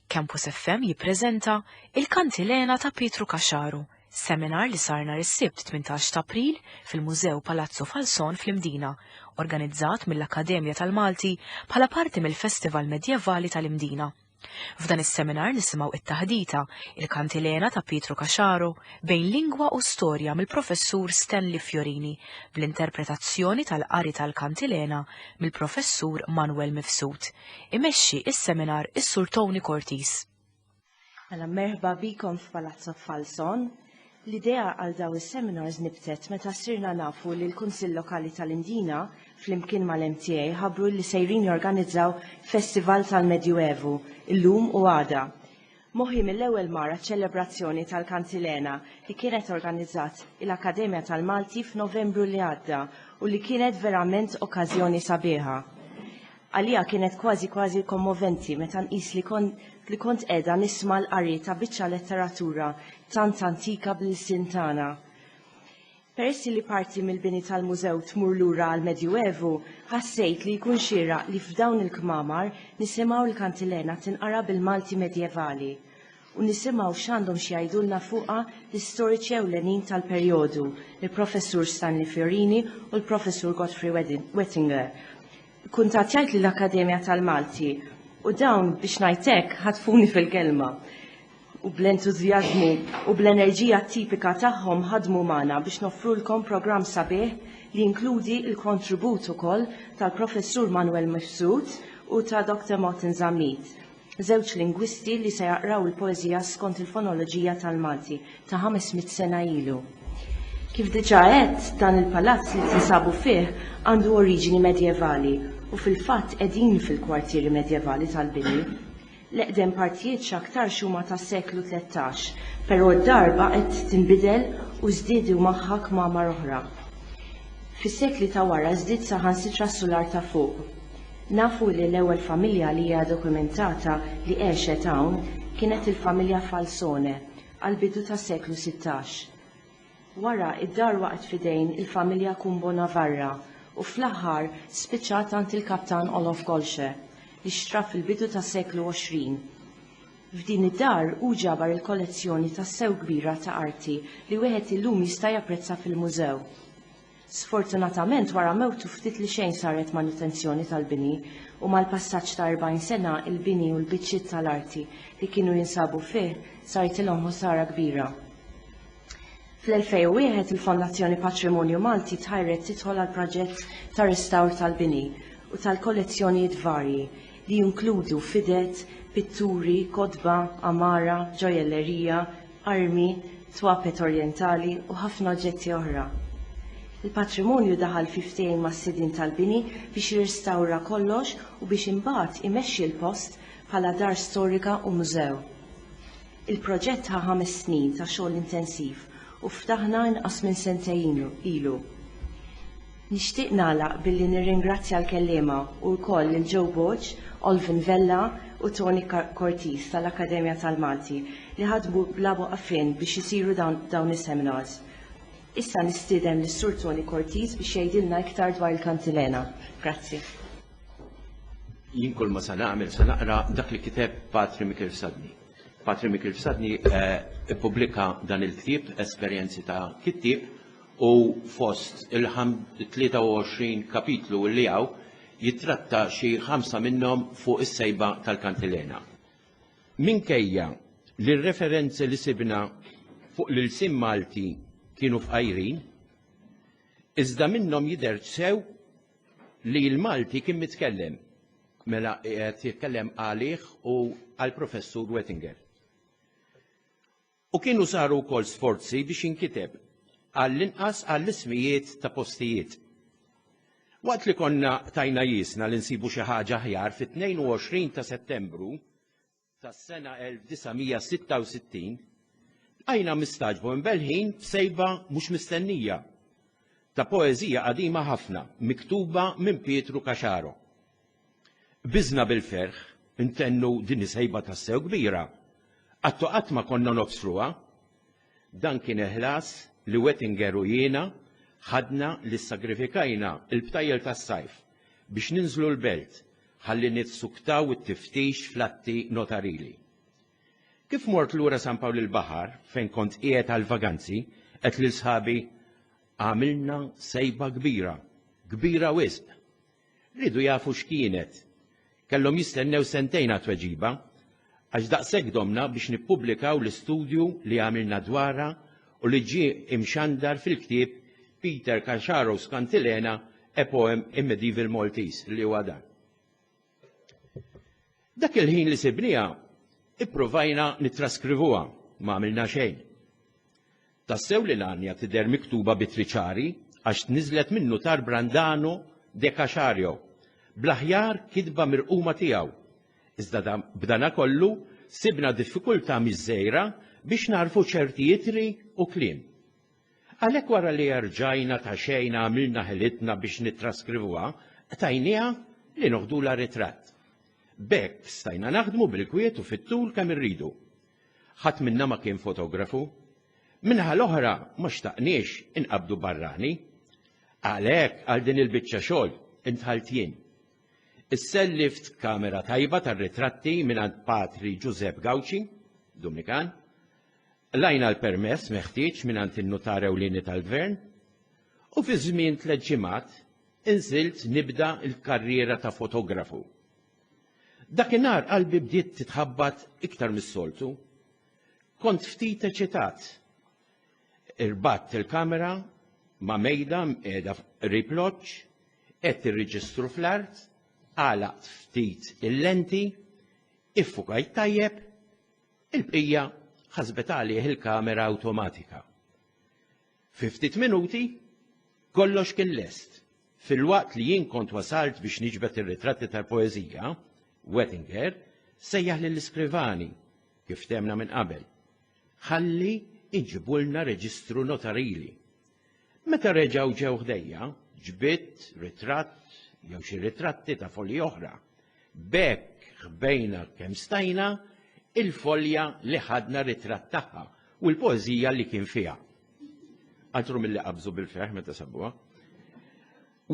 Campus FM jippreżenta Il-Kantilena ta' Pietru Caxaru, seminar li sar nhar is-Sibt 18 t'April fil-Mużew Palazzo Falzon fl-Imdina, organizzat mill-Akkademja tal-Malti bħala parti mill-Festival Medjevali tal-Imdina. F'dan is-seminar nisimgħu it-taħdita Il-Kantilena ta' Pietru Caxaro bejn lingwa u storja mill-Professur Stanley Fiorini bl-interpretazzjoni tal-qari tal-Kantilena mill-Professur Manwel Mifsud. imexxi s-seminar is-Sur Tony Cortis. Mela merħba bikom f'Palazzo Falzon. L-idea għal dawn is-seminars nibtet meta sirna nafu li l-Kunsill Lokali tal-Indina flimkien mal-MTA ħabbru li sejrin jorganizzaw festival tal-Medjuevu llum u għada. Moħħi mill-ewwel mar ċ-ċelebrazzjoni tal-Kantilena li kienet organizzat il-Akkademja tal-Malti f'Novembru li għadda u li kienet verament okkażjoni sabiħa. Għalija kienet kważi kważi kommoventi meta nqis li kont li kont qiegħda nisma' l-qari ta' biċċa letteratura tant antika bl-ilsien tagħna. Peress li parti mill-bini tal-mużew tmur lura għall-Medjuevu, ħassejt li jkun xieraq li f'dawn il-kmamar nisimgħu l-kantilena tinqara bil-Malti Medjevali u nisimgħu x'għandhom x'jgħidulna fuqha l-istoriċi ewlenin tal-perjodu, il-Professur Stanley Fiorini u l-Professur Godfrey Wettinger. Kkuntattjajt lill-Akkademja tal-Malti u dawn, biex ngħid hekk, ħatfuni fil-kelma. u bl-entużjażmu u bl-enerġija tipika tagħhom ħadmu magħna biex noffrulkom programm sabiħ li jinkludi l-kontribut ukoll tal-Professur Manwel Mifsud u ta' Dr. Martin Zammit, żewġ lingwisti li se jaqraw il-poeżija skont il-fonoloġija tal-Malti ta' 500 sena ilu. Kif diġà għedt, dan il-palazz li tinsabu fih għandu oriġini medjevali u fil-fatt qegħdin fil-kwartieri medjevali tal-bini. L-eqdem partijiet x'aktarx huma tas-seklu tlettax, però d-darba qed tinbidel u żdiedu magħha kmamar oħra. Fis-sekli ta' wara żdied saħansitra s-sular ta' fuq. Nafu li l-ewwel familja li hija dokumentata li għexet hawn kienet il-familja Falsone għall-bidu tas-seklu sittax. Wara, id-dar waqgħet f'idejn il-familja Kumbo Navarra u fl-aħħar spiċċat għand il-Kaptan Olof Golsche, li xtrah fil-bidu tas-seklu 20. F'din id-dar hu ġabar il-kollezzjoni tassew kbira ta' arti li wieħed illum jista' japprezza fil-mużew. Sfortunatament wara mewtu ftit li xejn saret manutenzjoni tal-bini u mal-passaġġ ta' 40 sena il-bini u l-biċċiet tal-arti li kienu jinsabu fih saritilhom ħosara kbira. Fl-2001 il-Fondazzjoni Patrimonju Malti tħajret tidħol għal proġett ta' restawr tal-bini u tal-kollezzjonijiet varji li jinkludu fidet, pitturi, kotba, għamara, ġojellerija, armi, twapet orjentali u ħafna oġġetti oħra. Il-patrimonju daħal fi ftehim mas-sidien tal-bini biex jirrestawra kollox u biex imbagħad imexxi l-post bħala dar storika u mużew. Il-proġett ħa ħames snin ta' xogħol intensiv u ftaħna inqas minn sentejn ilu. Nixtieq nagħlaq billi nirringrazzja l-kelliema u wkoll lil Joe Borg, Olvin Vella u Tony Cortese tal-Akkademja tal-Malti li ħadmu bla waqfien biex isiru dawn is-seminars. Issa nistieden lis-Sur Tony Cortese biex jgħidilna iktar dwar il-kantilena. Grazzi. Jien kull ma se nagħmel se naqra dak li kiteb Patri Mikil Sadni. Patri Mikil Sadni eh, ippubblika dan il-ktieb esperjenzi ta' kittieb u fost il-23 kapitlu li hawn jittratta xi ħamsa minnhom fuq is-sejba tal-kantilena. Minkejja li r-referenzi li sibna fuq l-ilsien Malti kienu fqajrin, iżda minnhom jidher sew li l-Malti kien mitkellem, mela qed jitkellem għalih u għall-Professur Wettinger. u kienu saru wkoll sforzi biex inkiteb għall-inqas għall-ismijiet ta' postijiet. Waqt li konna tajna jiesna li nsibu xi ħaġa aħjar fit-22 ta' Settembru tas-sena 1966, bqajna mistagħġba u mbelħin b'sejba mhux mistennija ta' poeżija qadima ħafna miktuba minn Pietru Caxaro. Qbiżna bil-ferħ intennu din is-sejba tassew kbira. Qattu qatt ma konna nobstruha. Dan kien il-ħlas li Wettinger u jiena ħadna li ssagrifikajna l-btajjel tas-sajf biex ninżlu l-belt ħalli nissuktaw it-tiftix fl-atti notarili. Kif mort lura San Pawl il-Baħar, fejn kont qiegħed għall-vaganzi, għedt lil sħabi, Għamilna sejba kbira, kbira wisq! Riedu jafu x'kienet. Kellhom jistennew sentejn għat-tweġiba. Għax daqshekk domna biex nippubblikaw l-istudju li għamilna dwarha u li ġie imxandar fil-ktieb Peter Casharos Cantilena, A Poem in Medieval Maltese, li huwa dan. Dak il-ħin li sibniha, ippruvajna nittraskrivuha, ma għamilna xejn. Tassew li l-għanja tidher miktuba b'ittri ċari għax tniżżlet min-Nutar Brandano de Caxario, bl-aħjar kitba mirquma tiegħu. Iżda b'danakollu sibna diffikultà mhix żgħira biex nagħrfu ċerti ittri u kliem. Għalhekk wara li erġajna ta' xejn għamilna ħilitna biex nittraskrivuha, qtajnieha li noħdulha ritratt. B'hekk stajna naħdmu bil-kwiet u fit-tul kemm irridu. Ħadd minna ma kien fotografu. Min-naħa l-oħra ma xtaqniex inqabbdu barrani. Għalhekk għal din il-biċċa xogħol intħalt jien. Issellift kamera tajba tar-ritratti mingħand Patri Ġużepp Gawċi, Dumnikan. Lajna l-permess meħtieġ mingħand in-Nutar Ewlieni tal-Gvern u fi żmien tliet ġimgħat inżilt nibda l-karriera ta' fotografu. Dakinhar qalbi bdiet titħabbat iktar mis-soltu. Kont ftit eċitat. Irbatt il-kamera ma' mejda mqiegħda qrib loġġ, qed irriġistru fl-art, għalaqt ftit il-lenti, iffukajt tajjeb, il-bqija ħasbet għalih il-kamera awtomatika. Fi ftit minuti kollox kien lest. Filwaqt li jien kont wasalt biex niġbed ir-ritratti tal-poeżija, Wettinger sejjaħ lill-iskrivani kif temna minn qabel. Ħalli iġibulna reġistru notarili. Meta reġgħu ġew ħdejja, ġbidt ritratt jew xi ritratti ta' foli oħra B'hekk ħbejna kemm stajna il-folja li ħadna ritratt tagħha u l-poeżija li kien fiha. Altru milli qabżu bil-ferħ meta sabuha.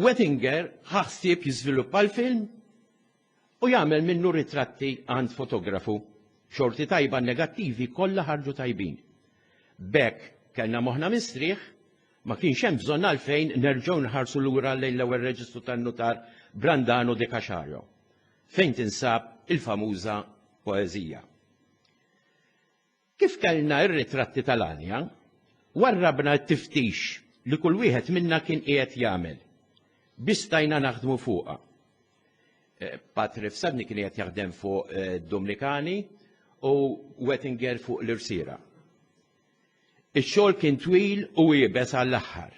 Wettinger ħa ħsieb jiżviluppa l-film u jagħmel minnu ritratti għand fotografu. Xorti tajba negattivi kollha ħarġu tajbin. B'hekk kellna moħħna mistrieħ Ma kienx hemm bżonn għalfejn nerġgħu nħarsu lura lejn l-ewwel reġistru tan-nutar Brandano de Caxario, fejn tinsab il-famuża poeżija. Kif kellna r-ritratti tal-għanja, warrabna t-tiftix li kull wieħed minna kien qiegħed jagħmel. Bistajna naħdmu fuqha. Eh, Patri Fsadni kien qiegħed jaħdem fuq eh, Dominikani u Wettinger fuq l-Irsira. Ix-xogħol kien twil u iebes għall-aħħar.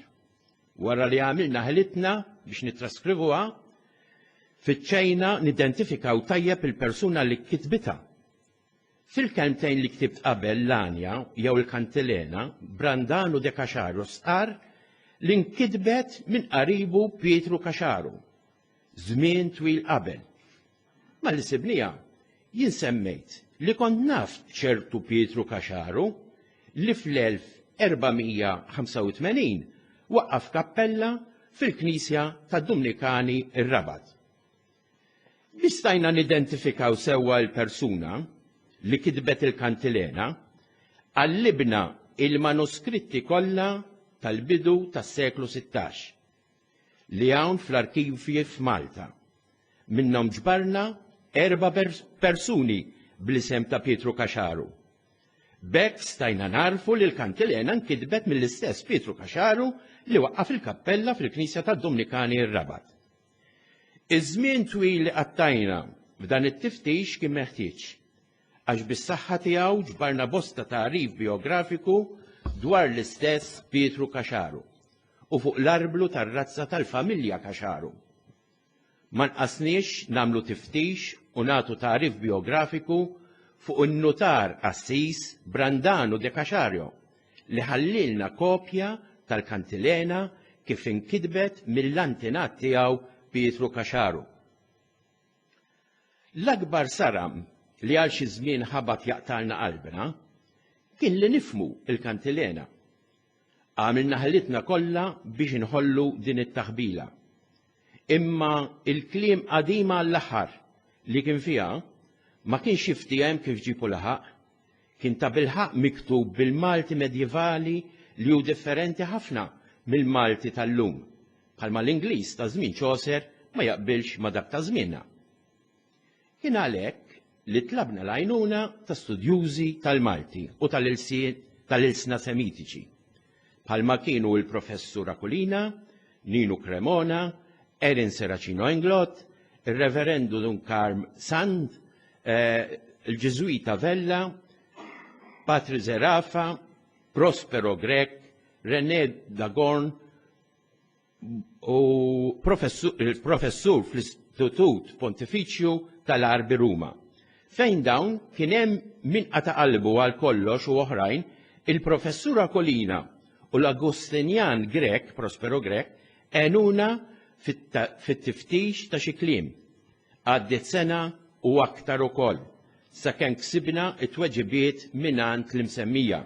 Wara li għamilna ħilitna biex nittraskrivuha, fittxejna nidentifikaw tajjeb il-persuna li kitbitha. Fil-kelmtejn li ktibt qabel l-Anja jew il-Kantilena, Brandanu de Caxaro stqarr li nkitbet minn qaribu Pietru Caxaro. żmien twil qabel. Ma li sibnija jien semmejt li kont naf ċertu Pietru Kaxaru li fl-1485 waqqaf kappella fil-knisja tad-Dumnikani r-Rabat. Biex stajna nidentifikaw sewwa l-persuna li kitbet il-kantilena, qallibna il-manuskritti kollha tal-bidu tas-seklu 16. li hawn fl-arkivji f'Malta. Minnhom ġbarna erba' persuni bl-isem ta' Pietru Caxaru. B'hekk stajna nagħrfu li l-kantilena nkitbet mill-istess Pietru Caxaru li waqqaf il-kappella fil-Knisja tad-Dumnikani r-Rabat. Iż-żmien twil li qattajna f'dan it-tiftix kien meħtieġ, għax bis-saħħa tiegħu ġbarna bosta tagħrif bijografiku dwar l-istess Pietru Caxaru. u fuq l-arblu tar-razza tal-familja Cacharum. Ma nqasniex nagħmlu tiftix u nagħtu tagħrif bijografiku fuq in-nutar Assis Brandanu de Cachario li ħallielna kopja tal-kantilena kif inkitbet mill-antenat tiegħu Pietru Cacharum. L-akbar saram li għal xi żmien ħabat jaqtgħalna qalbna kien li nifhmu l-kantilena Għamilna ħilitna kollha biex inħollu din it-taħbila. Imma il-kliem qadima għall-aħħar li kien fiha ma kienx jiftiehem kif ġipu laħaq. Kien ta' bilħaq miktub bil-Malti medjevali li hu differenti ħafna mill-Malti tal-lum, bħalma l-Ingliż ta' żmien Chaucer ma jaqbilx ma' dak ta' żmienna. Kien għalhekk li tlabna l-għajnuna ta' studjużi tal-Malti u tal-ilsna Semitiċi, bħalma kienu l-Professur Aquilina, Ninu Cremona, Erin Serracino Englot, ir-Reverendu Dun Carm Sand, il-Ġiżwita Vella, Patri Zerafa, Prospero Grech, René Dagorn u professur fl-Istitut Pontifiċju tal-Arbi Ruma. Fejn dawn kien hemm min qata' qalbu għal kollox u oħrajn, il-professura Kolina u l-Agustinjan Grek, Prospero Grek, għenuna fit-tiftix ta' xi kliem. Għaddiet sena u aktar ukoll, sakemm ksibna t-tweġibiet mingħand l-imsemmija.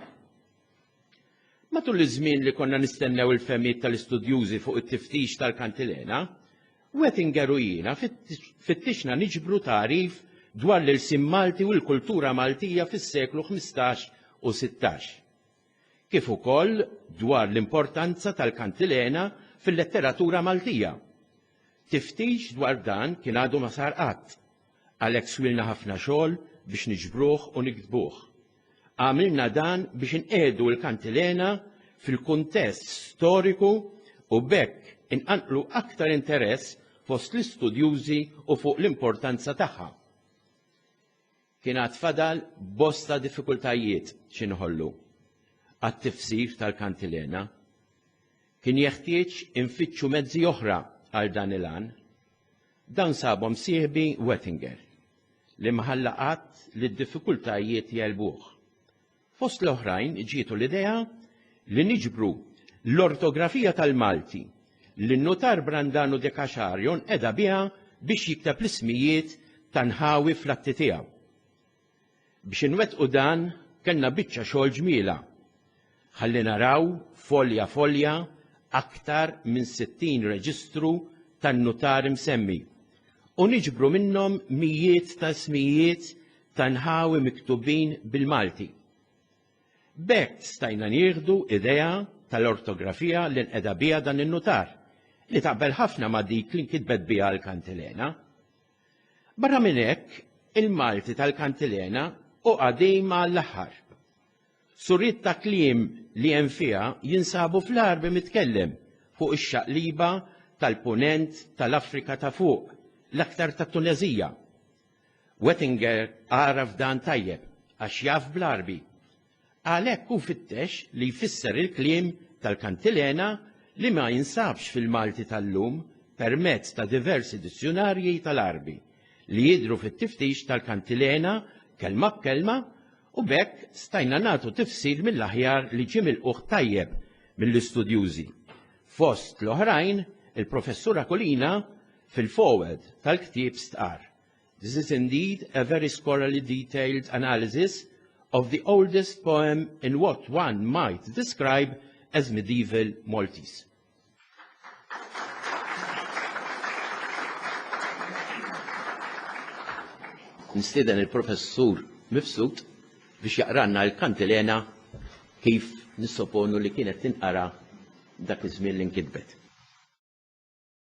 Matul iż-żmien li konna nistennew il-fehmiet tal-istudjużi fuq it-tiftix tal-kantilena, Wettinger u jiena fittixna niġbru tagħrif dwar l-ilsien Malti u l-kultura Maltija fis-seklu ħmistax u sittax, kif ukoll dwar l-importanza tal-kantilena fil-letteratura Maltija. Tiftix dwar dan kien għadu ma sar qatt. Għalhekk swilna ħafna xogħol biex niġbruh u niktbuh. Għamilna dan biex inqiegħdu l-kantilena fil-kuntest storiku u b'hekk inqanqlu aktar interess fost l-istudjużi u fuq l-importanza tagħha. Kien għad fadal bosta diffikultajiet x'inħollu għat-tifsir tal-kantilena. Kien jeħtieġ infittxu mezzi oħra għal dan il-għan. Dawn sabhom sieħbi Wettinger, li ma ħalla qatt li d-diffikultajiet jegħlbuh. Fost l-oħrajn ġietu l-idea li niġbru l-ortografija tal-Malti li n-Nutar Brandanu de Caxar jonqedha biha biex jikteb l-ismijiet ta' nħawi fl-atti tiegħu. Biex inwettqu dan kellna biċċa xogħol ġmielha. Ħalli naraw folja folja aktar minn 60 reġistru tan-nutari msemmi u niġbru minnhom mijiet ta' ismijiet ta' nħawi miktubin bil-Malti. B'hekk stajna nieħdu idea tal-ortografija li nqeda biha dan in-nutar, li taqbel ħafna ma' dik li nkitbet biha l-kantilena. Barra minn hekk, il-Malti tal-kantilena hu qadim għall-aħħar. Suriet ta' kliem li hemm fiha jinsabu fl-Għarbi mitkellem fuq ix-xaqliba tal-Punent tal-Afrika ta' Fuq, l-aktar tat-Tuneżija. Wettinger għaraf dan tajjeb għax jaf bl-Għarbi. Għalhekk hu fittex li jfisser il-kliem tal-kantilena li ma jinsabx fil-Malti tal-lum permezz ta' diversi dizzjunarji tal-Għarbi li jidhru fit-tiftix tal-kantilena kelma b'kelma u b'hekk stajna nagħtu tifsir mill-aħjar li ġie milqugħ tajjeb mill-istudjużi, fost l-oħrajn il-Professur Aquilina fil-foreword tal-ktieb stqarr This is indeed a very scholarly detailed analysis of the oldest poem in what one might describe as medieval Maltese. Nistiden il-professur Mifsud biex jaqranna l-kantilena kif nissoponu li kienet tinqara dak iż-żmien li nkitbet.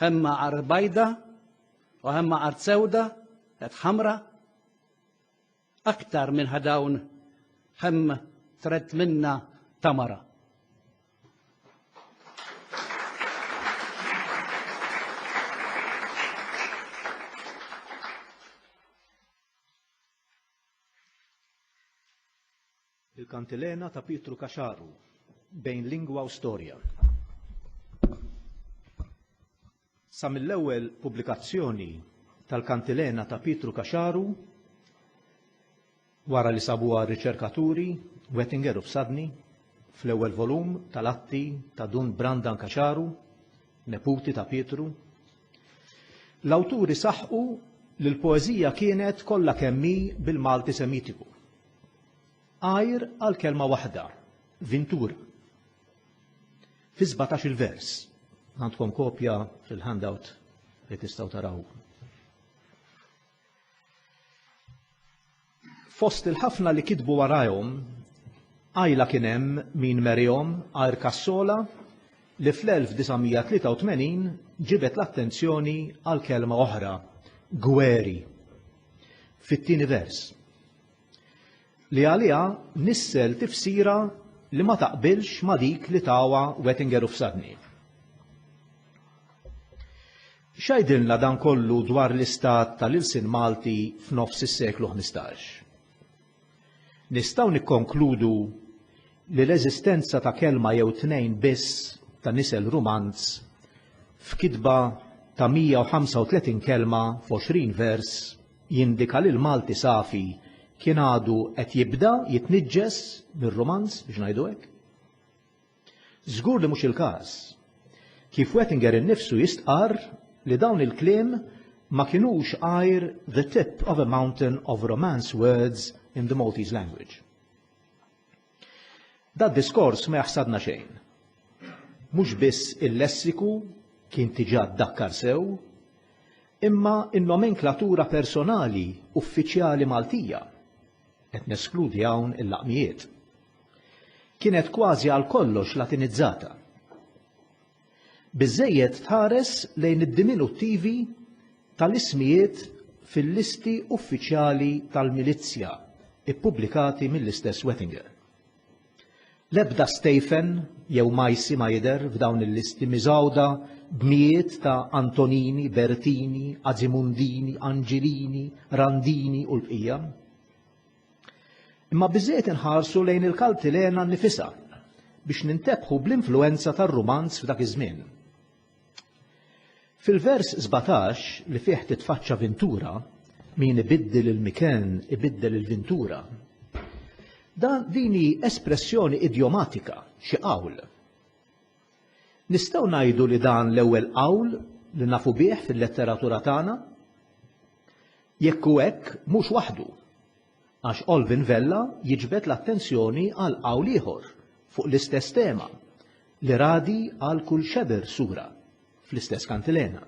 Hemm art bajda u hemm art sewda, qed ħamra. Aktar minn ħadawn hemm tret minna tamara. Il-Kantilena ta' Pietru Caxaru, bejn lingwa u storja. Sa mill-ewwel pubblikazzjoni tal-Kantilena ta' Pietru Caxaru, wara li sabuha r-riċerkaturi Wettinger u Psadni fl-ewwel volum tal-atti ta' Dun Brandan Caxaru, neputi ta' Pietru, l-awturi saħqu li l-poeżija kienet kollha kemm hi bil-Malti Semitiku. għajr għal kelma waħda, vintura. Fi 17 il-vers, għandkom kopja fil-handout li tistaw taraw. Fost il-ħafna li kitbu warajhom, għajla kien hemm min merihom għajr kassola li fl-1983 ġibet l-attenzjoni għal kelma oħra, gweri. Fit-tieni vers, li għaliha nissel tifsira li ma taqbilx ma' dik li tawha Wettinger u Fsadni. X'għidilna dan kollu dwar l-istat tal-ilsien Malti f'nofs is-seklu ħmistax? Nistgħu nikkonkludu li l-eżistenza ta' kelma jew tnejn biss ta' nisel rumanz f'kitba ta' 135 kelma f'għoxrin vers jindika li l-Malti safi kien għadu qed jibda jitniġġes mir-Rumanz, biex ngħidu hekk. Żgur li mhux il-każ. Kif Wettinger innifsu jistqarr li dawn il-kliem ma kinux għajr the tip of a mountain of Romance words in the Maltese language. Dad-diskors ma jaħsadna xejn. Mhux biss il-lessiku kien diġà ddakkar sew, imma n-nomenklatura personali uffiċjali Maltija, qed neskludi hawn il-laqmijiet, kienet kważi għal kollox Latinizzata. Biżżejjed tħares lejn id-diminuttivi tal-ismijiet fil-listi uffiċjali tal-milizzja ppubblikati mill-istess Wettinger. L-ebda Stephen jew Maisy ma jidher f'dawn il-listi miżgħuda b'mijiet ta' Antonini, Bertini, Azimundini, Anġilini, Randini u l-bqija. Imma biżżejjed inħarsu lejn il-Kaltilena nnifisha biex nintebħu bl-influwenza tar-Rumanz f'dak iż-żmien. Fil-vers 17 li fih titfaċċa Vintura, min ibiddel il-miken ibiddel il-Vintura. Dan din hi espressjoni idjomatika, xi qawl. Nistgħu ngħidu li dan l-ewwel qawl li nafu bih fil-letteratura tagħna? Jekk hu hekk, mhux waħdu, għax Alvin Vella jiġbed l-attenzjoni għal qawl ieħor fuq l-istess tema, li radi għal kull xebr sura fl-istess kantilena.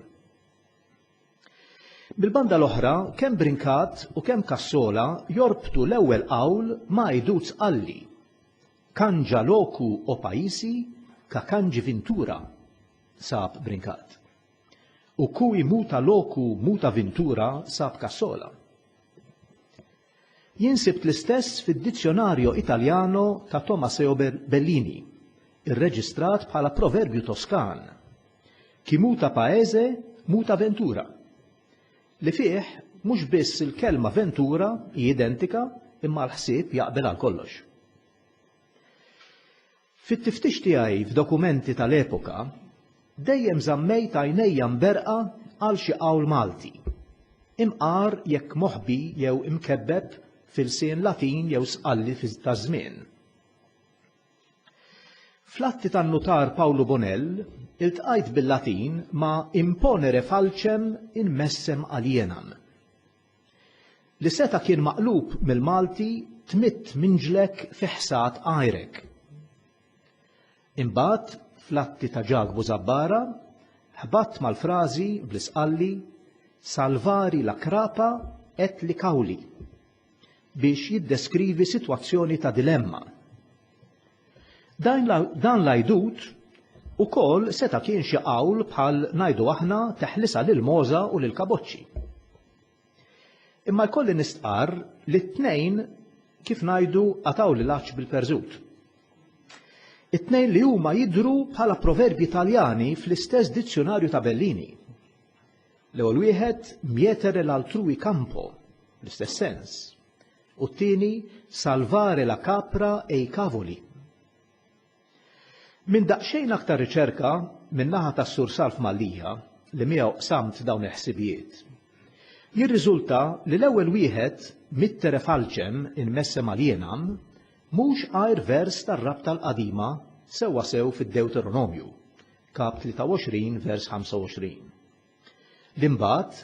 Mill-banda l-oħra, kemm Brincat u kemm Cassola jorbtu l-ewwel qawl ma' Iduz Qalli, Kanġa loku o paisi ka kangi vintura, sab brinkat. U kui muta loku muta vintura sab ka sola. Jien sibt l-istess fid-Dizionario Italiano ta' Tomaseo Bellini, irreġistrat bħala proverbju Toskan, Chi muta paese, muta ventura. li fih mhux biss il-kelma ventura hi identika imma l-ħsieb jaqbel għal kollox. Fit-tiftix tiegħi f'dokumenti tal-epoka, dejjem żammejt għajnejja mberqa għal xi qawl Malti, imqar jekk moħbi jew imkebbeb f'ilsien Latin jew sqalli taż-żmien. Fl-atti tan-Nutar Pawlu Bonell iltqajt bil-Latin ma' imponere falcem in messem alienam, li seta' kien maqlub mill-Malti tmidd minġlek fi ħsad għajrek. Imbagħad, fl-atti ta' Ġakbu Zabbara, ħbatt mal-frażi bl-Isqalli salvari la crapa et li cauli, biex jiddeskrivi sitwazzjoni ta' dilemma. Dan l-għajdut ukoll seta' kien xi qawl bħal ngħidu aħna teħlisa lil Moża u lil Kaboċċi. Imma jkolli nistqarr li t-tnejn kif ngħidu qataw lil għaċ bil-perżut. It-tnejn li huma jidhru bħala proverbji Taljani fl-istess dizzjunarju ta' Bellini. L-ewwel wieħed mietere l-altrui campo, l-istess sens, u t-tieni salvare la capra e i cavoli. Minn daqsxejn aktar riċerka min-naħa tas-Sur Salf Mallia li miegħu qsamt dawn il-ħsibijiet, jirriżulta li l-ewwel wieħed mittere falcem in messem alienam mhux għajr vers tar-rabta l-qadima sewwasew fid-Dewteronomju, Kap 23, vers 25, li mbagħad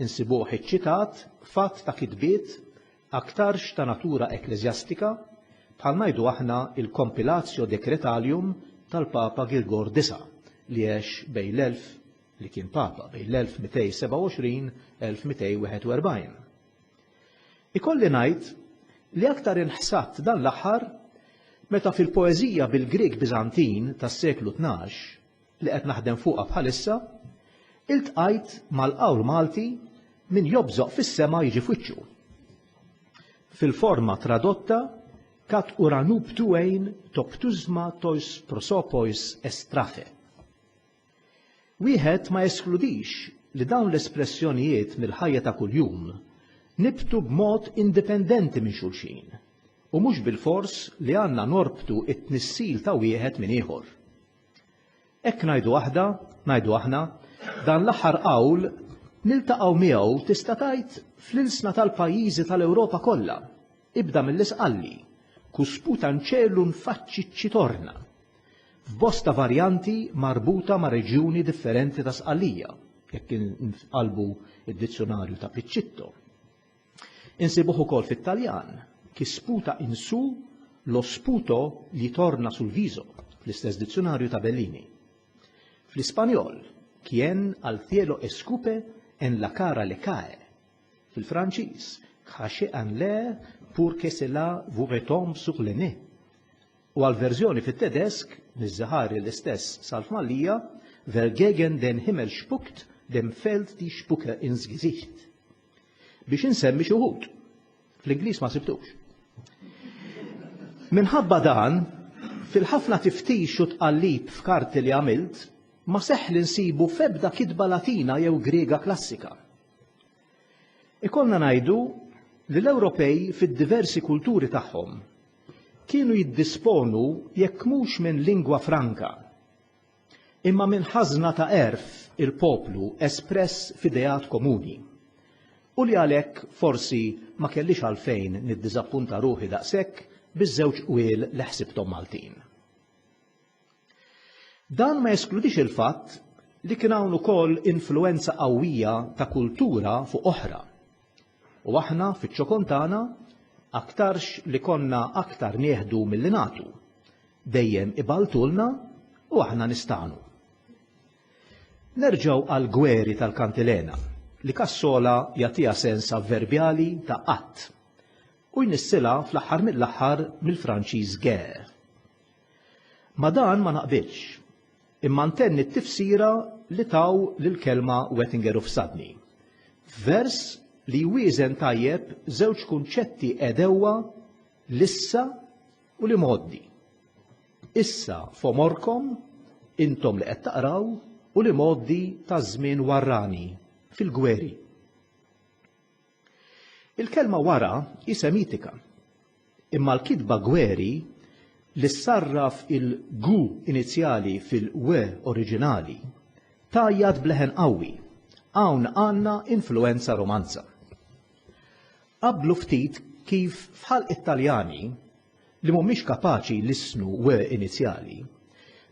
insibuh iċċitat f'għadd ta' kitbiet aktarx ta' natura ekkleżjastika bħal ngħidu aħna il-Compilatio Decretalium tal-Papa Girgor Disa' li għex bejn l-elf li kien Papa bejn l-1227, 1241. Ikolli ngħid li aktar inħsadt dan l-aħħar meta fil-poeżija bil-Grieg Biżantin tas-seklu tnax, li qed naħdem fuqha bħalissa, iltqajt mal-qawl Malti min jobżoq fis-sema jiġi f'wiċċu. Fil-forma tradotta kat uranuptu ein toptusma tois prosopois estrafe. Wieħed ma jeskludix li dawn l-espressjonijiet mill-ħajja ta' kuljum nibtu b'mod indipendenti minn xulxin u mhux bilfors li għandna norbtu t-tnissil ta' wieħed minn ieħor. Hekk ngħidu aħda, ngħidu aħna, dan l-aħħar qawl niltaqgħu miegħu tista' tgħid fl-ilsna tal-pajjiżi tal-Ewropa kollha, ibda mill-Isqalli, Cu sputa 'n ċelu nfaċċi ċċitorna, f'bosta varjanti marbuta ma' reġjuni differenti ta' Sqallija, jekk inqallbu d-dizzjunarju ta' Piccitto. Insibuh ukoll fit-Taljan, chi sputa in su lo sputo gli torna sul viso, fl-istess dizzjunarju ta' Bellini. Fl-Ispanjol, quien al cielo escupe en la cara le cae. Fil-Franċiż, cracher en l'air pour que cela vous retombe sur le nez. u għall-verżjoni fit-Tedesk, Miż-Żehari l-istess sal-Fmallia, Wer gegen den Himmel spuckt, dem fällt die Spucke ins Gesicht. Biex insemmi xi wħud. Fl-Ingliż ma sibtux. Minħabba dan, fil-ħafna tiftix u tqallib f'karti li għamilt, ma seħħ li nsibu f'ebda kitba Latina jew Griega klassika. Ikollna ngħidu li l-Ewropej fid-diversi kulturi tagħhom kienu jiddisponu jekk mhux minn lingwa franka, imma minn ħażna ta' għerf il-poplu espress f'ideat komuni, u li għalhekk forsi ma kellix għalfejn niddiżappunta ruħi daqshekk biż-żewġ qwiel li ħsibthom Maltin. Dan ma jeskludix il-fatt li kien hawn ukoll influwenza qawwija ta' kultura fuq oħra. U aħna fiċ-ċokon tagħna aktarx li konna aktar nieħdu milli nagħtu, dejjem iballtulna u aħna nistagħnu. Nerġgħu għall-gweri tal-kantilena li Cassola jagħtiha sens avverbjali ta' qatt u jnissilha fl-aħħar mill-aħħar mill-Franċiż guerre. Ma' dan ma naqbilx, imma ntenni t-tifsira li taw lill-kelma Wettinger u fsadni. F'vers li jwieżen tajjeb żewġ kunċetti għedewwa l-issa u l-imgħoddi. Issa f'għomorkom, intom li qed taqraw, u l-imgħoddi taż-żmien warrani, fil-gweri. Il-kelma wara hi Semitika, imma l-kitba gweri, li ssarraf il-gu inizjali fil-we oriġinali, tgħajjat b'leħen qawwi, hawn għandna influwenza Romanza. Qabblu ftit kif f'ħalq it-Taljani li mhumiex kapaċi jlissnu w inizjali,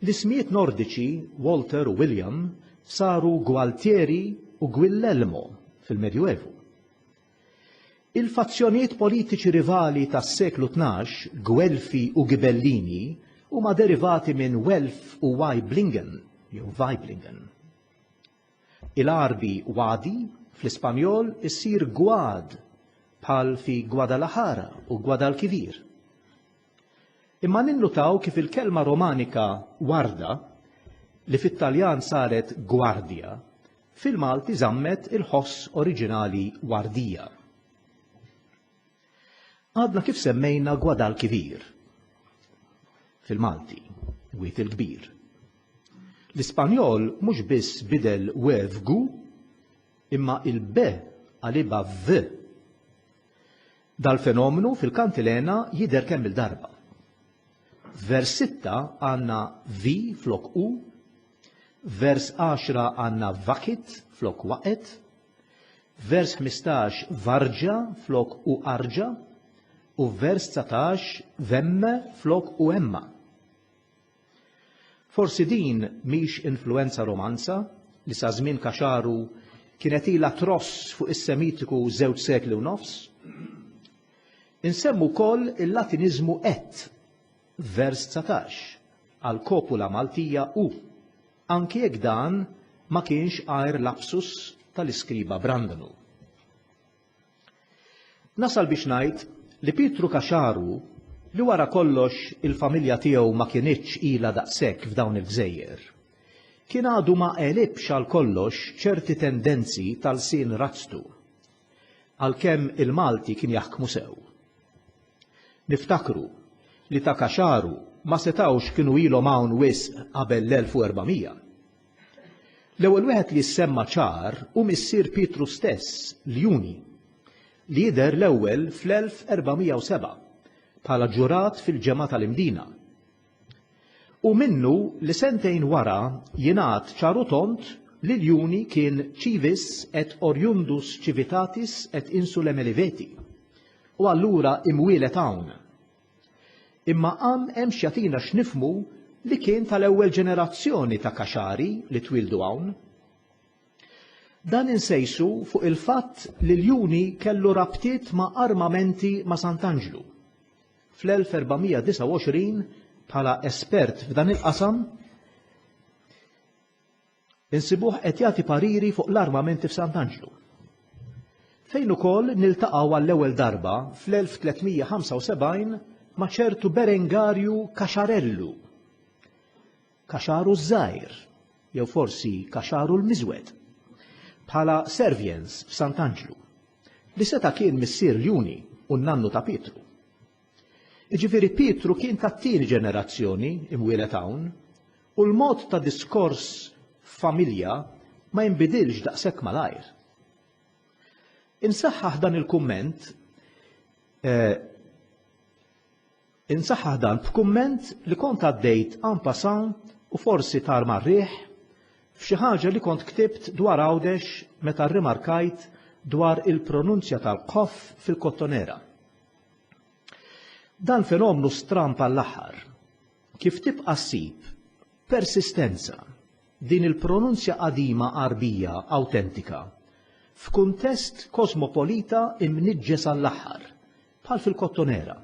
l-ismijiet Nordiċi Walter u William saru Gualtieri u Guillelmo fil-Medjuevu. Il-fazzjonijiet politiċi rivali tas-seklu tnax, Guelfi u Ghibellini, huma derivati minn Welf u Waiblingen jew Waiblingen. Il-għarbi wadi, fl-Ispanjol, issir gwad, bħal fi Gwadalahara u Gwadalkivir. Imma ninnutaw kif il-kelma Romanika warda, li fit-Taljan saret gwardja, fil-Malti żammet il-ħoss oriġinali wardija. Għadna kif semmejna Guadalquivir fil-Malti, wiet il-kbir. L-Ispanjol mhux biss bidel we f'gu, imma il-be għaliba v. Dal-fenomenu fil-kantilena jidher kemm il-darba. Vers 6 għandna vi flok u, vers 10 għandna vakit flok waqet, F'vers 15 varġa flok u arġa u f'vers 19 vemme flok u emma. Forsi din mhix influenza romanza li sa żmien kaxaru kienet ilha tross fuq is-Semitiku żewġ sekli u nofs? Insemmu wkoll il-Latiniżmu et, vers 19, għal kopula Maltija u. anki jekk dan ma kienx għajr lapsus tal-iskriba Brandanu. Nasal biex ngħid li Pietru Caxaru, li wara kollox il-familja tiegħu ma kinitx ilha daqshekk f'dawn il-gżejjer, kien għadu ma għelibx għal kollox ċerti tendenzi ta' lsien razztu, għalkemm il-Malti kien jaħkmu sew. Niftakru li ta' Kaxaru ma setgħux kienu ilhom hawn wisq qabel l-1400. L-ewwel wieħed li ssemma ċar hu missier Pietru stess, Ljuni, li jidher l-ewwel fl-1407 bħala ġurat fil-ġemgħa tal-Imdina Hu minnu li sentejn wara jingħad ċar u tond li l-juni kien civis et oriundus civitatis et insulae Meliveti, u allura imwieled hawn. Imma hawn hemm x'jagħtina x'nifhmu li kien tal-ewwel ġenerazzjoni ta' Kaxari li twieldu hawn. Dan insejsu fuq il-fatt li l-juni kellu rabtiet ma' armamenti ma' Sant'Anġlu. fl-1429 bħala espert f'dan il-qasam, insibuh qed jagħti pariri fuq l-armamenti f'Sant'Anġlu. Fejn ukoll niltaqgħu għall-ewwel darba fl-1375 ma' ċertu Berengarju Kaxarellu, Kaxaru ż-Żgħir, jew forsi Kaxaru l-Miżwed, bħala serviens f'Sant'Anġlu. Li seta' kien missier l-Juni u n-nannu ta' Pietru. Jiġifieri Pietru kien tat-tieni ġenerazzjoni imwieled hawn u l-mod ta' diskors f'familja ma jinbidilx daqshekk malajr. Insaħħaħ dan il-kumment, Insaħħaħ dan b'kumment li kont għaddejt en passant u forsi tar mar-riħ, f'xi ħaġa li kont ktibt dwar Għawdex meta rrimarkajt dwar il-pronunzja tal-qoff fil-Kottonera. Dan fenomnu stramb għall-aħħar. Kif tibqa' ssib persistenza din il-pronunzja qadima Għarbija awtentika f'kuntest kosmopolita imniġġes għall-aħħar bħal fil-Kottonera,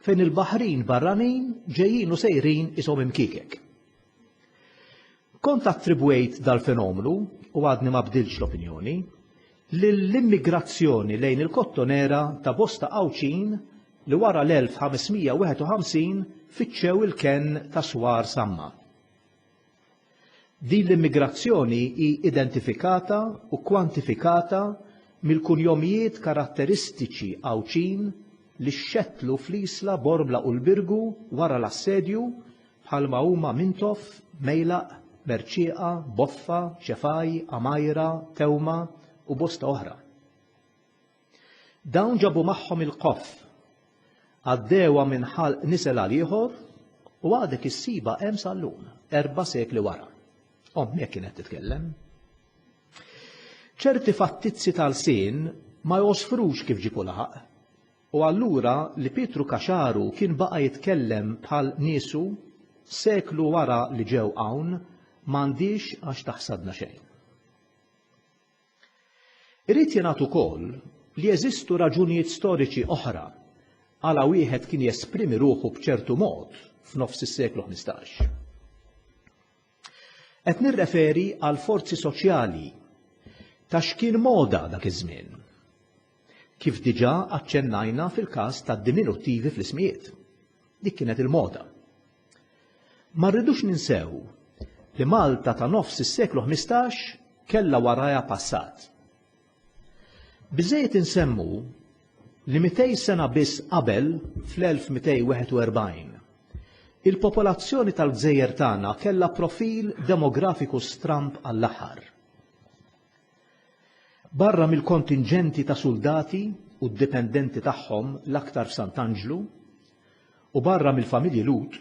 fejn il-baħrin barranin ġejjin u sejrin ishom imkiekek. Kont attribwejt dal-fenomenu, u għadni ma bdilx l-opinjoni, lill-immigrazzjoni lejn il-Kottonera ta' bosta Għawdxin li wara l-1551 fittxew il-kenn ta' Swar Samma. Din l-immigrazzjoni hi identifikata u kwantifikata mill-kunjomijiet karatteristiċi Għawdxin li xxettlu fl-Isla, Bormla u l-Birgu wara l-assedju, bħalma huma Mintoff, Mejlaq, Merċieqa, Boffa, Ċefaj, Għamajra, Tewma u bosta oħra. Dawn ġabu magħhom il-qoff. Għaddewha minn ħalq nisel għal ieħor u għadek issibha hemm sal-lum, erba' sekli wara. Ommi hekk kienet titkellem. Ċerti fattizzi tal-sin ma josfrux kif ġipu laħaq. U allura li Pietru Kaxaru kien baqa' jitkellem bħal niesu seklu wara li ġew hawn m'għandix għax taħsadna xejn. Irid jingħad ukoll li jeżistu raġunijiet storiċi oħra għala wieħed kien jesprimi ruħu b'ċertu mod f'nofs is-seklu ħmistax. Qed nirreferi għal forzi soċjali ta' x'kien moda dak iż-żmien. kif diġà aċċennajna fil-każ tad-diminuttivi fl-ismijiet. Dik kienet il-moda. Ma rridux ninsew li Malta ta' nofs is-seklu ħmistax kellha warajha passat. Biżżejjed insemmu li 200 sena biss qabel, fl-1241, il-popolazzjoni tal-gżejjer tagħna kellha profil demografiku stramb għall-aħħar. Barra mill-kontinġenti ta' suldati u d-dipendenti tagħhom l-aktar f'Sant'Anġlu, u barra mill-familji Lhud,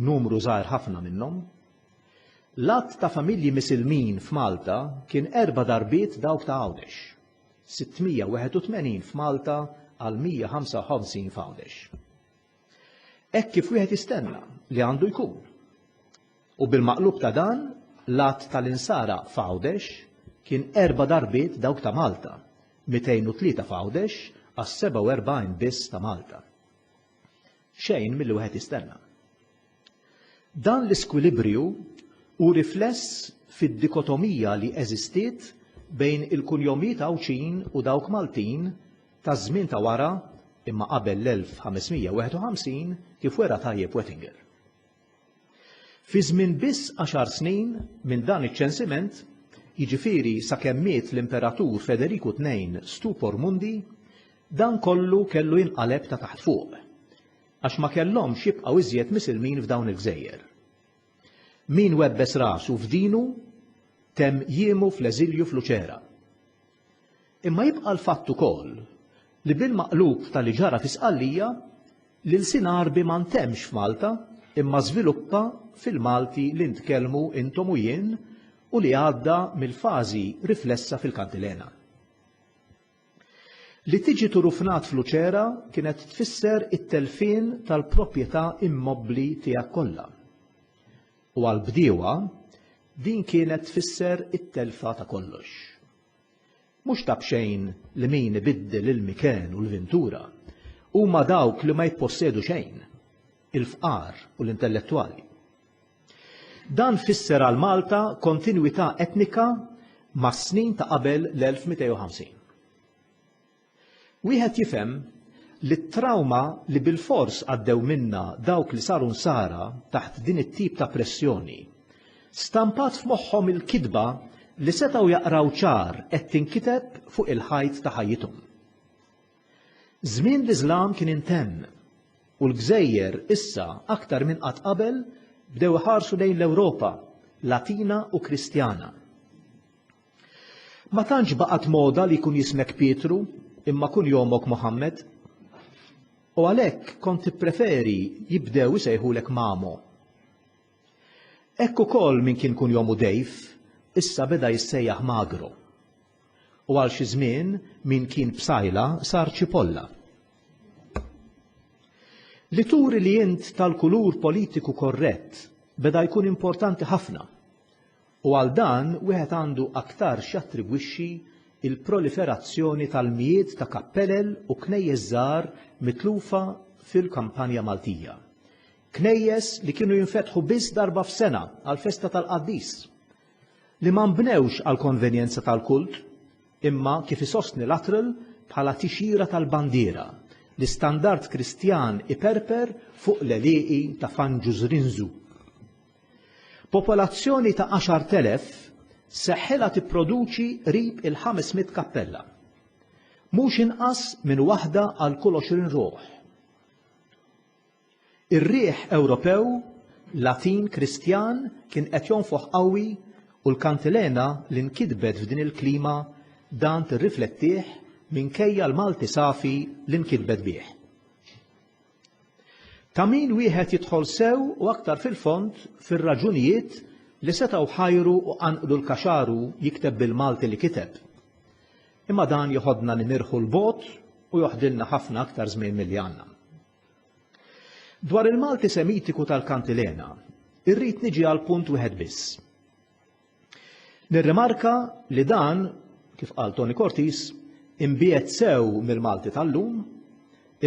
numru żgħir ħafna minnhom, l-għadd ta' familji Misilmin f'Malta kien erba' darbiet dawk ta' Għawdex, 681 f'Malta għal 155 f'Għawdex. Hekk kif wieħed jistenna li għandu jkun. U bil-maqlub ta' dan, l-għadd tal-Insara f'Għawdex kien erba' darbiet dawk ta' Malta, 203 f'Għawdex għas-47 biss ta' Malta. Xejn milli wieħed jistenna. Dan l-iskwilibriju hu rifless fid-dikotomija li eżistiet bejn il-kunjomijiet Għawdxin u dawk Maltin taż-żmien ta' wara imma qabel l-1551 kif wera tajjeb Wettinger. Fi żmien biss għaxar snin minn dan iċ-ċensiment, jiġifieri sakemm miet l-Imperatur Federiku Tnejn Stupor Mundi, dan kollu kellu jinqaleb ta' taħt fuq. Għax ma kellhomx jibqgħu iżjed misilmin f'dawn il-gżejjer. Min webbes rasu f'dinu temm jiemu fl-eżilju f'Luċera. Imma jibqa' l-fatt ukoll li bil-maqlub ta' li ġara fi Sqallija, l-ilsien Għarbi ma ntemmx f'Malta imma żviluppa fil-Malti li ntkellmu intom u jien u li għadda mill-fażi riflessa fil-Kantilena. Li tiġi turufnat f'Luċera kienet tfisser it-telfien tal-proprjetà immobbli tiegħek kollha. U għall-bdiewa, din kienet tfisser it-telfa ta' kollox. Mhux ta' b'xejn li min ibiddel il-miken u l-vintura huma dawk li ma jippossedu xejn, il-fqar u l-intellettwali. Dan fisser għal Malta kontinwità etnika mas-snin ta' qabel l-1250. Wieħed jifhem li t-trawma li bilfors għaddew minnha dawk li saru nsara taħt din it-tip ta' pressjoni stampat f'moħħhom il-kitba li setgħu jaqraw ċar qed tinkiteb fuq il-ħajt ta' ħajjithom. Żmien l-Iżlam kien intemm, u l-gżejjer issa aktar minn qatt qabel bdew iħarsu lejn l-Ewropa Latina u Kristjana. Ma tantx baqgħet moda li jkun jismek Pietru imma kun jomok Muħammad, u għalhekk kont tippreferi jibdew isejħulek Mamo. Hekk ukoll min kien kunjomu Dave issa beda jissejjaħ Magro. U għal xi żmien min kien Psaila sar Cipolla. Li turi li int tal-kulur politiku korrett beda jkun importanti ħafna u għal dan wieħed għandu aktarx jattribwixxi l-proliferazzjoni tal-mijiet ta' kappelel u knejjes żgħar mitlufa fil-kampanja Maltija. Knejjes li kienu jinfetħu biss darba f'sena għall-festa tal-qaddis, li ma nbnewx għall-konvenjenza tal-kult, imma kif isostni Luttrell bħala tixjira tal-bandiera, l-istandard Kristjan iperper fuq l-għelieqi ta' Fanġużrinżu. Popolazzjoni ta' għaxart elef sseħħilha tipproduċi qrib il-ħames mitt kappella, mhux inqas minn waħda għal kull għoxrin ruħ. Ir-riħ Ewropew, Latin Kristjan, kien qed jonfoħ qawwi u l-kantilena li nkitbet f'din il-klima dan tirriflettih minkejja l-Malti safi li nkitbet bih. Ta' min wieħed jidħol sew u aktar fil-fond fir-raġunijiet li setgħu ħajru u qanqlu l-kaxaru jikteb bil-Malti li kiteb. Imma dan joħodna nimirħu 'l bogħod u joħdilna ħafna aktar żmien milli għandna. Dwar il-Malti Semitiku tal-Kantilena, irrid niġi għal punt wieħed biss. Nirrimarka li dan, kif qal Tony Cortis, imbiet sew mill-Malti tal-lum,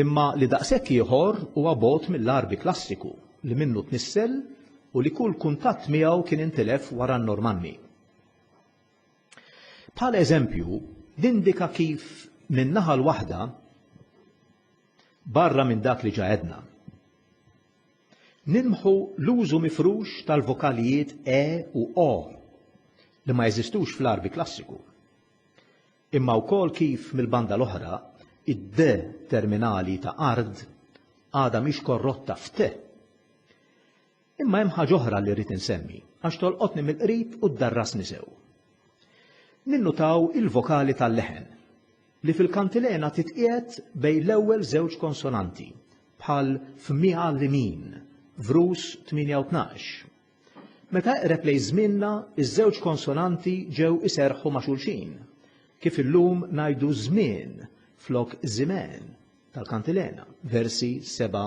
imma li daqshekk ieħor huwa bogħod mill-Għarbi klassiku li minnu tnissel u li kull kuntatt miegħu kien intilef wara n-Normanni. Bħala eżempju, nindika kif min-naħa l-waħda barra minn dak li ġa għedna. Nimħu l-użu mifrux tal-vokalijiet e u o li ma jeżistux fl-Għarbi Klassiku. Imma wkoll kif mill-banda l-oħra id-d terminali ta' ard għadha mhix korrotta f'te Imma hemm ħaġa oħra li rrid insemmi għax tolqotni mill-qrib u ddarrasni sew. Ninnutaw il-vokali tal-leħen, li fil-kantilena titqiegħed bejn l-ewwel żewġ konsonanti, bħal f'Miha Limin, Vrus 8:12. Meta eqreb lejn żmienna, iż-żewġ konsonanti ġew iserrħu ma' xulxin, kif illum ngħidu żmien flok żimgħen tal-kantilena, versi 7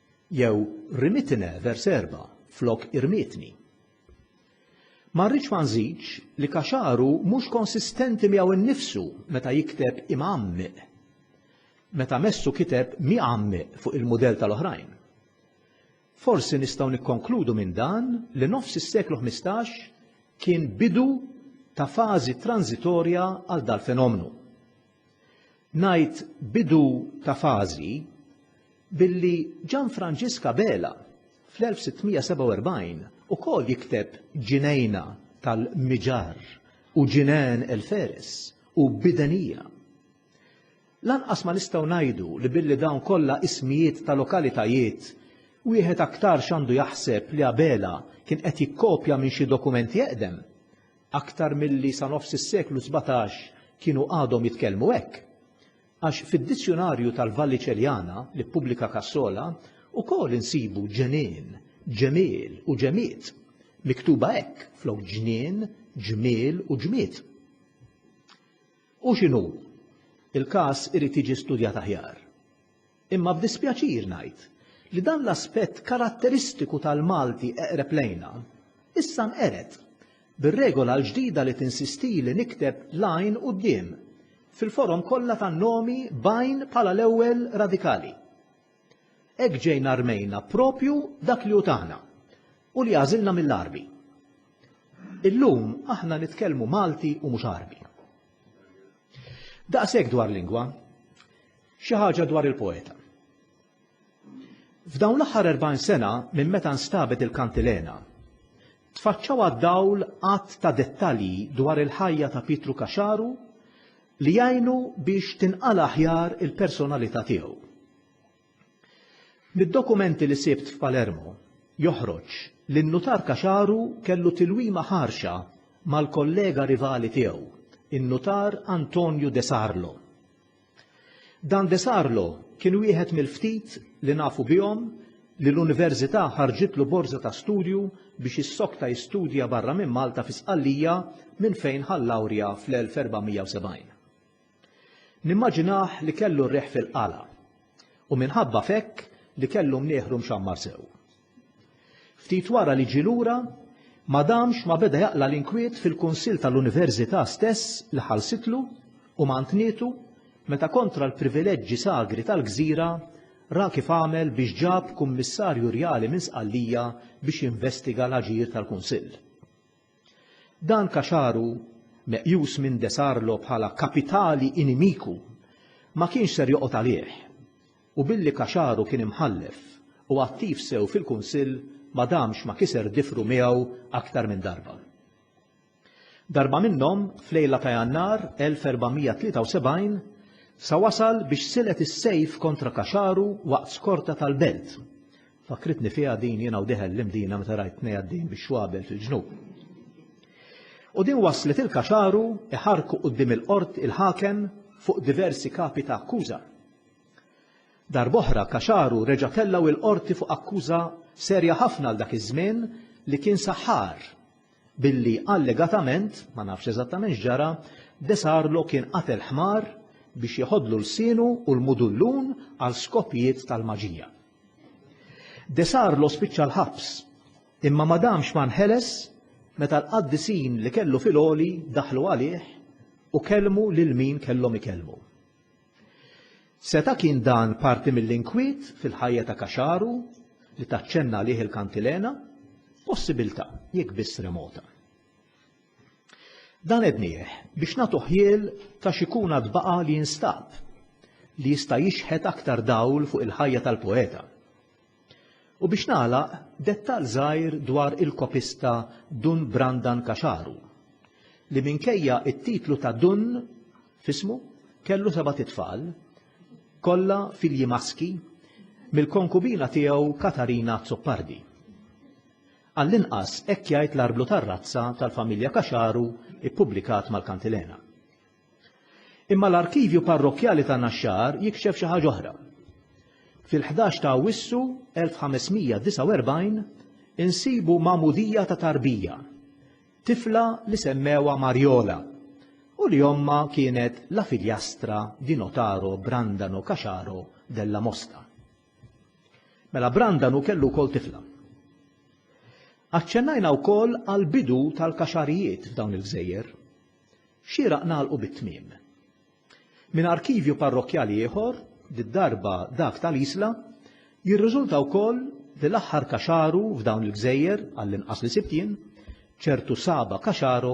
Jew rimitine vers 4 flok irmietni. Ma rridx ma nżidx li Kaxaru mhux konsistenti miegħu nnifsu meta jikteb imgħammiq. Meta Messu kiteb miegħammiq fuq il-mudell tal-oħrajn. Forsi nistgħu nikkonkludu minn dan li nofs is-seklu 15 kien bidu ta' fażi tranżitorja għal dal-fenomnu. Ngħid bidu ta' fażi billi Gian Franġisk Abela fl-1647 ukoll jikteb Ġinejna tal-Miġarr u Ġinène el Feres u Bidenija. Lanqas ma nistgħu ngħidu li billi dawn kollha ismijiet ta' lokalitajiet wieħed aktarx għandu jaħseb li Abela kien qed jikkopja minn xi dokument eqdem, Aktar milli sa nofs is-seklu sbatax kienu għadhom jitkellmu hekk. Għax fid-Dizzjunarju tal-Valliċeliana li ppubblika Cassola ukoll insibu ġenien, ġemiel u ġemied, miktuba hekk flok ġnien, ġmiel u ġmied. Hu x'inhu, il-każ irid jiġi studjat aħjar. Imma b'dispjaċir ngħid li dan l-aspett karatteristiku tal-Malti eqreb lejna, issa nqered, bir-regola l-ġdida li tinsistili nikteb l-għajn quddiem, fil-forom kollha tan-nomi b'għajn bħala l-ewwel radikali. Hekk ġejna rmejna proprju dak li hu tagħna, u li għażilna mill-Għarbi. Illum aħna nitkellmu Malti u mhux Għarbi. Daqshekk dwar lingwa. Xi ħaġa dwar il-poeta. F'dawn l-aħħar 40 sena minn meta nstabet il-kantilena, tfaċċaw għad-dawl għadd ta' dettalji dwar il-ħajja ta' Pietru Caxaru li jgħinu biex tinqala' aħjar il-personalità tiegħu. Mid-dokumenti li sibt f'Palermo joħroġ li n-nutar Caxaru kellu tilwima ħarxa mal-kollega rivali tiegħu, in-nutar Antonio De Sarlo. Dan de Sarlo kien wieħed mill-ftit li nafu bihom li l-Universita' ħarġitlu borża ta' studju biex jissokta jistudja barra minn Malta fi Sqallija minn fejn ħa l-lawrja fl-1470. Nimmaġinah li kellu r-riħ fil-qala u minħabba f'hekk li kellu mnieħru mxammar sew. Ftit wara li ġie lura, ma damx ma beda jaqla' l-inkwiet fil-Kunsill tal-Università stess li ħallsitlu u mantnietu meta kontra l-privileġġi sagri tal-gżira ra kif għamel biex ġab Kummissarju Rjali minn Sqallija biex jinvestiga l-aġir tal-Kunsill. Dan Caxaru, meqjus minn De Sarlo bħala kapitali inimiku, ma kienx ser joqgħod għalih u billi Caxaru kien imħallef u attiv sew fil-Kunsill ma damx ma kiser difru miegħu aktar minn darba. Darba minnhom, f'lejla ta' Jannar 1473, sa wasal biex silet is-sejf kontra Caxaru waqt skorta tal-belt, Fakkritni fiha din jiena u diħel l-Imdina meta rajt tnej għaddejjin bix-xwabel fil-ġnub. U din wasslet lil Caxaru iħarrku quddiem il-Qort il-Ħakem fuq diversi kapi ta' akkuża. Darb'oħra Caxaru reġa' tellgħu il-Qorti fuq akkuża serja ħafna għal dak iż-żmien li kien saħħar billi allegatament, ma nafx eżattament x'ġara, De Sarlo kien qatel ħmar biex jeħodlu lsienu u l-mudullun għal skopijiet tal-maġija. De Sarlo spiċċa l-ħabs, imma ma damx ma nħeles meta l-qaddisin li kellu fil-għoli daħlu għalih u kellmu lil min kellhom ikellmu. Seta' kien dan parti mill-inkwiet fil-ħajja ta' Kaxaru li taċċenna għalih il-kantilena? Possibilità, jekk biss remota. Dan għednieh biex nagħtu ħjiel ta' xi kun għad baqa' li jinstab, li jista' jixħet aktar dawl fuq il-ħajja tal-poeta. U biex nagħlaq, dettall żgħir dwar il-kopista Dun Brandan Caxaru, li minkejja t-titlu ta' Dun f'ismu, kellu sebat itfal, kollha filji maski, mill-konkubina tiegħu Katarina Azzopardi. Għall-inqas hekk jgħid l-arblu tar-razza tal-familja Caxaru ppubblikat mal-Kantilena. Imma l-arkivju parrokkjali ta' Naxxar jikxef xi ħaġa oħra. Fil-ħdax ta' Awwissu 1549 insibu magħmudija ta' tarbija, tifla li semmewha Marjola u li ommha kienet la figliastra di notaro Brandano Caxaro della Mosta. Mela Brandan hu kellu wkoll tifla. Aċċennajna wkoll għall-bidu tal-kaxarijiet f'dawn il-gżejjer. Xieraq nagħlqu bit-tmiem. Minn arkivju parrokkjali ieħor, did-darba dak tal-Isla, jirriżulta wkoll li l-aħħar kaxaru f'dawn il-gżejjer, għall-inqas li sibt jien, ċertu Saba Kaxaro,